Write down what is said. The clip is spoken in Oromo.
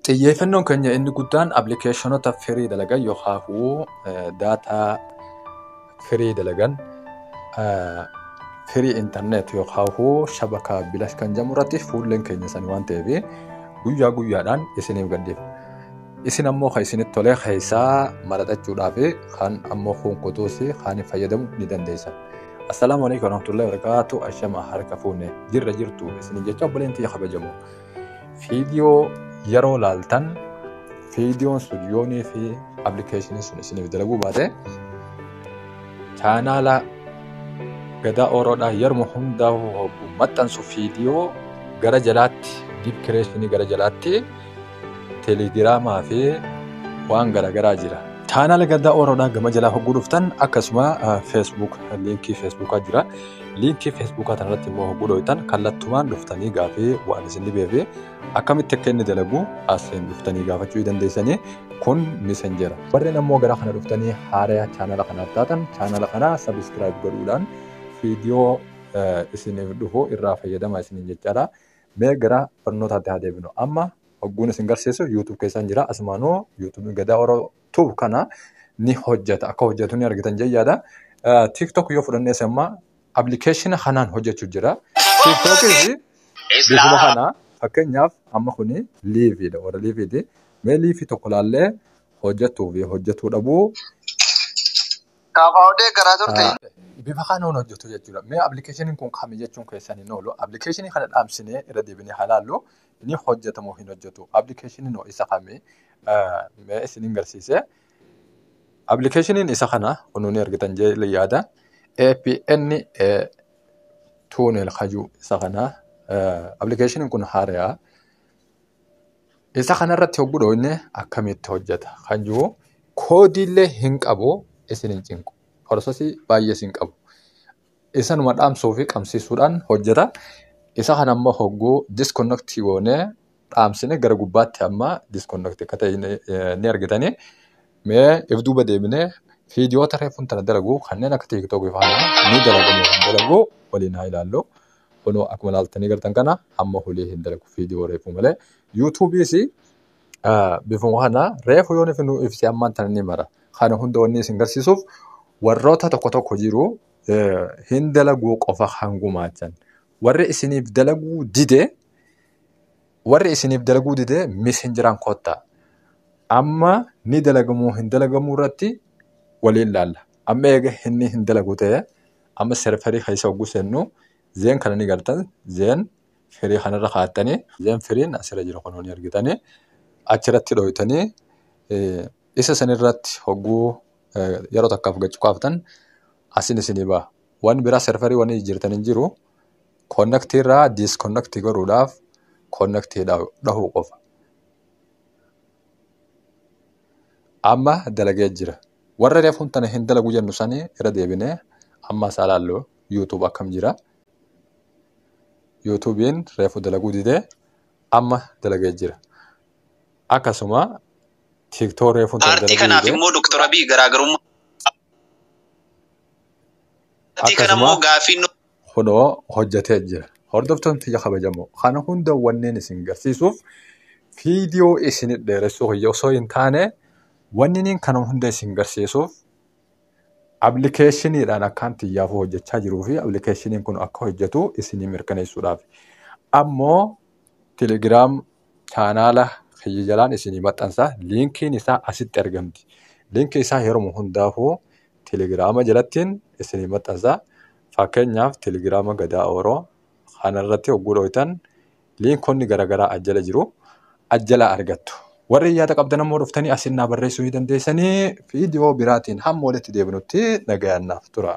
Xiyyeeffannoon keenya inni guddaan appilikeeshinoota firii dalagan yookaahuu daataa firii dalagan firii intarneet yookaahuu shabakaa bilash kan jedhamu irratti fuulleen keenya sani waan ta'eef guyyaa guyyaadhaan isiniif gadhiifna. Isin ammoo kan isinitti tolee keessaa maraxachuudhaa fi kan ammoo kun kutuus kan fayyadamu ni dandeessa. Assalaamu alaikum warahmatullahi wabarakatuh. Ashama harka fuune jirra jirtu isiniin jecha obboleen tiyya kabajamoo. Viidiyoo yeroo laaltan viidiyoon sun yoonii fi appilikeeshiniin sun isiniif dalaguu baate chaanaala gadaa ooroodhaa yeruma hundaa hogguu maxxansu viidiyoo gara jalaatti diip kireeshinii gara jalaatti teelegiraamaa fi waan garaagaraa jira. Chaanaala gadaa ooroodhaa gama jalaa hogguu dhuftan akkasuma feesbuuk liinkii feesbuukaa jira. Liinkii Feesbuukaa kanarratti immoo hogguu dhooytan kallattumaan dhuftanii gaafii waan isin dhibeefi akkamitti akka inni dalagu asiin dhuftanii gaafachuu dandeessanii kun misenjera. Warreen ammoo gara kana dhuftanii haaraya chaanala kanaaf taatan chaanala kana sabiskiraayib godhuudhaan viidiyoo isiniif dhufu irraa fayyadama isiniin jechaadha. Mee gara barnootaatti haa deebinu. Amma hogguun isin garsiisu YouTube keessaan jira. Asumaanuu YouTube Gadaa Oro tube kana ni hojjeta akka hojjetu ni argitan jee yaada tiktok yoo fudhannees amma appilikeeshina kanaan hojjechu jira tiktokis bifuma kana fakkeenyaaf amma kuni liiviidha warra liiviiti mee liivii tokko laallee hojjetuu fi hojjetuu dhabuu Kaafaawudee garaa turte. bifa kanaan hojjetu jechuudha mee appilikeeshiniin kun kami jechuun keessan hin oolu appilikeeshinii kana dhaamsinee irra deebinee halaallu Ni hojjeta moo hin hojjetu? Appilikeeshiniin hoo isa kami? Mee isinin garsiise. Appilikeeshiniin isa kana kunuu ni argitan jedhee yaada. APN tuunel kajuu isa kana. Appilikeeshiniin kun haarayaa. Isa kanarratti hogguu dhooyne akkamitti hojjeta kan jiru koodiillee hin qabu isin hin cinqu. Prosesii baay'ee isin qabu. Isanuma dhaamsuu fi qabsiisuudhaan hojjeta. Isa kana immoo hogguu disconnect goonee dhaamsine gara gubbaatti amma disconnect akka ta'e ni- eh, ni argitanii. Mee if duuba deebinee viidiyoota reefuun tana dalagu kanneen akka tiiktookii faana ni dalagamu kan dalagu waliin haa ilaallu. Kunoo akkuma ilaaltanii gartan kana amma hulii hin dalagu viidiyoo reefuu malee. Yuutuubiis Bifuma kana reefu yoon ifi nu ibse ammaan tana ni mara. Kana hunda wanni isin garsiisuuf warroota tokko tokko jiru hin dalaguu qofa kan gumaachan. Warri isiniif dalaguu dide warri isiniif dalaguu dide misinjiraan kottaa. Amma ni dalagamuu hin dalagamuu irratti waliin laalla. Amma eega inni hin dalagu ta'e amma serverii keessa hogguu seennu zeen kana ni gartan zeen firii kanarra kaattanii then firiin asirra jira kunoo ni argitanii achirratti dhooytanii isa sanirratti hogguu yeroo takkaaf gad cuqaaftan asin isinii ba'a. Waan biraa serverii waan jijjiirtan hin jiru. Connect irraa disconnect godhuudhaaf connect dhahuu qofa. Amma dalagee jira. Warra reefuun tana hin dalagu jennu sanii irra deebinee amma isaa laallu YouTube akkam jira. yuutuubiin reefu dalaguu didee amma dalagee jira. Akkasuma tiiktoo reefuun tan Paartii dalaguu kanaaf didee immoo Dr. Abiy garaagarummaa. Paartii kana immoo akkasuma gaaffiin nu kunoo hojjetee jira. Hordoftoonni tiyya kabajamoo kana hunda wanneen isin garsiisuuf viidiyoo isin dheeressuu kiyya osoo hin taane wanniniin kana hunda isin garsiisuuf Appilikeeshiniidhaan akkaan xiyyaafuu hojjechaa jiruu fi appilikeeshiniin kun akka hojjetu isinii mirkaneessuudhaaf. Ammoo telegiraam chaanaala kiyya jalaan isinii maxxansa. Liinkiin isaa asitti argamti. Liinkii isaa yeroo hundaafuu telegiraama jalattiin isinii maxxansa. Fakkeenyaaf telegiraama gadaa ooroo kanarratti hogguu dhooytan Liinkonni garagaraa as jala jiru. As jalaa argattu. Warri yaada qabdan ammoo dhuftanii asin naa barreessuu ni dandeessanii. Viidiyoo biraatiin hamma walitti deebinutti nagayaan naaf tura.